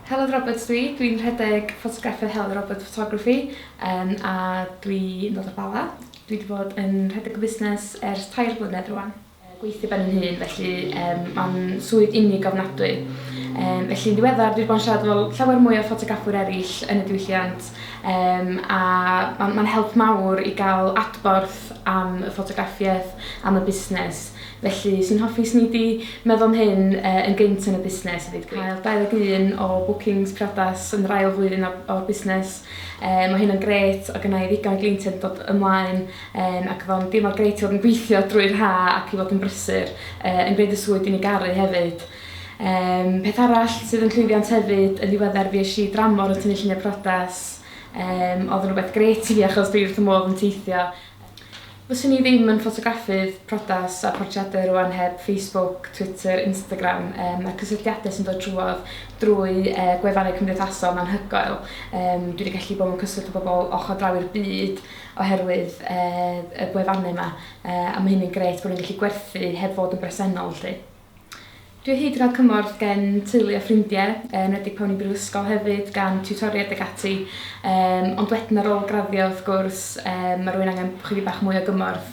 Heledd Roberts dwi, dwi'n rhedeg ffotograffau Heledd Roberts Photography um, a dwi'n dod o'r Bala. Dwi wedi bod yn rhedeg y busnes ers tair blynedd rwan. Gweithio ben yn hun, felly um, mae'n swydd unig ofnadwy. Um, felly yn ddiweddar, dwi wedi bod yn siarad fel llawer mwy o ffotograffwyr eraill yn y diwylliant um, a mae'n ma help mawr i gael adborth am y ffotograffiaeth, am y busnes. Felly, swn i'n hoffi i sni di meddwl am hyn yn gynt yn y busnes efyd. Cael 21 o bookings priodas yn yr ail flwyddyn o'r busnes, mae hynna'n grêt, o gynna i ddigon o gleientiaid yn dod ymlaen ac o'dd o'n deimlad grêt i fod yn gweithio drwy'r ha' ac i fod yn brysur yn gwneud y swydd dwi'n ei garu hefyd. Peth arall sydd yn llwyddiant hefyd, yn ddiweddar fuesh i dramor yn tynnu lluniau priodas, o'dd yn rwbeth grêt i fi achos dwi wrth fy modd yn teithio. Fyswn i ddim yn ffotograffydd priodas a portreadau rwan heb Facebook, Twitter, Instagram um, a cysylltiadau sy'n dod trwodd drwy uh, gwefannau cymdeithasol anhygoel. Um, dwi wedi gallu bod mewn cyswllt â bobl ochr draw i'r byd oherwydd uh, y gwefannau yma, uh, a mae hynny'n gret bod ni'n gallu gwerthu heb fod yn bresennol, lle. Dwi o hyd yn cael cymorth gen teulu a ffrindiau, yn enwedig pan o'n i'n brifysgol hefyd, gan tiwtoriaid ac ati, um, ond wedyn ar ôl graddio wrth gwrs, um, mae rwy'n angen chydig bach mwy o gymorth.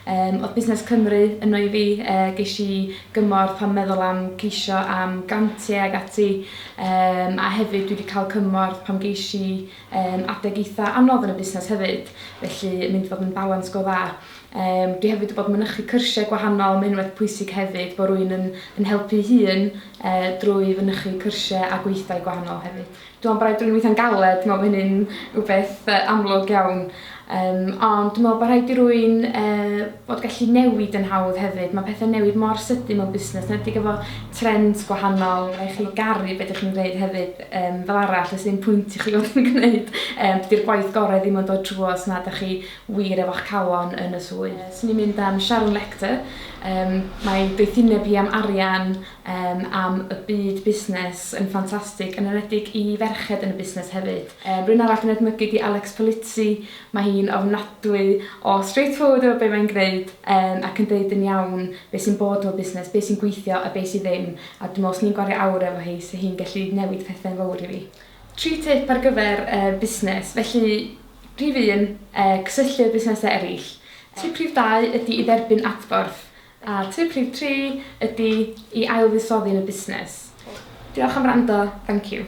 Um, oedd Busnes Cymru yno i fi, uh, geis i gymorth pan meddwl am ceisio am grantiau ac ati, um, a hefyd dwi wedi cael cymorth pan geis i um, adeg eitha anodd yn y busnes hefyd, felly mynd fod yn balans go dda. Yym dwi hefyd wybod mynychu cyrsiau gwahanol ma' hyn yn beth pwysig hefyd bo' rwy'n yn yn helpu'i hun yy drwy fynychu cyrsiau a gweithdai gwahanol hefyd. Dwi me'wl bo' raid rwy'n weithio'n galed dwi me'wl bo' hynny'n wbeth yy amlwg iawn yym ond dwi me'wl bo' rhaid i rwy'n yy bod gallu newid yn hawdd hefyd ma' pethe'n newid mor sydyn mewn busnes 'nedig efo trends gwahanol ma' rai' chi garu be' dych chi'n gneud hefyd yym fel arall o's ddim pwynt i chi fod yn gneud yym dydi'r gwaith gore ddim yn dod trwodd os nad 'dach chi wir efo'ch calon yn y swydd. Swn i'n mynd am Sharon Lechter, yym mae doethineb hi am arian, yym am y byd busnes yn ffantastig, yn enwedig i ferched yn y busnes hefyd. Yym rywun arall dwi'n edmygu 'di Alex Polizzi, mae hi'n ofnadwy o straight forward efo be' mae'n gneud, yym ac yn deud yn iawn be' sy'n bod efo busnes, be' sy'n gweithio a be' sy ddim, a dwi me'wl os ni'n gwario awr efo hi 'se hi'n gellu newid pethe'n fowr i fi. Tri tip ar gyfer y busnes, felly Rhif un, cysylltu â busnesau eraill. Tip rhif dau ydy i dderbyn adborth. A tip rhif tri ydy i ailfuddsoddi yn y busnes. Diolch am wrando, thank you.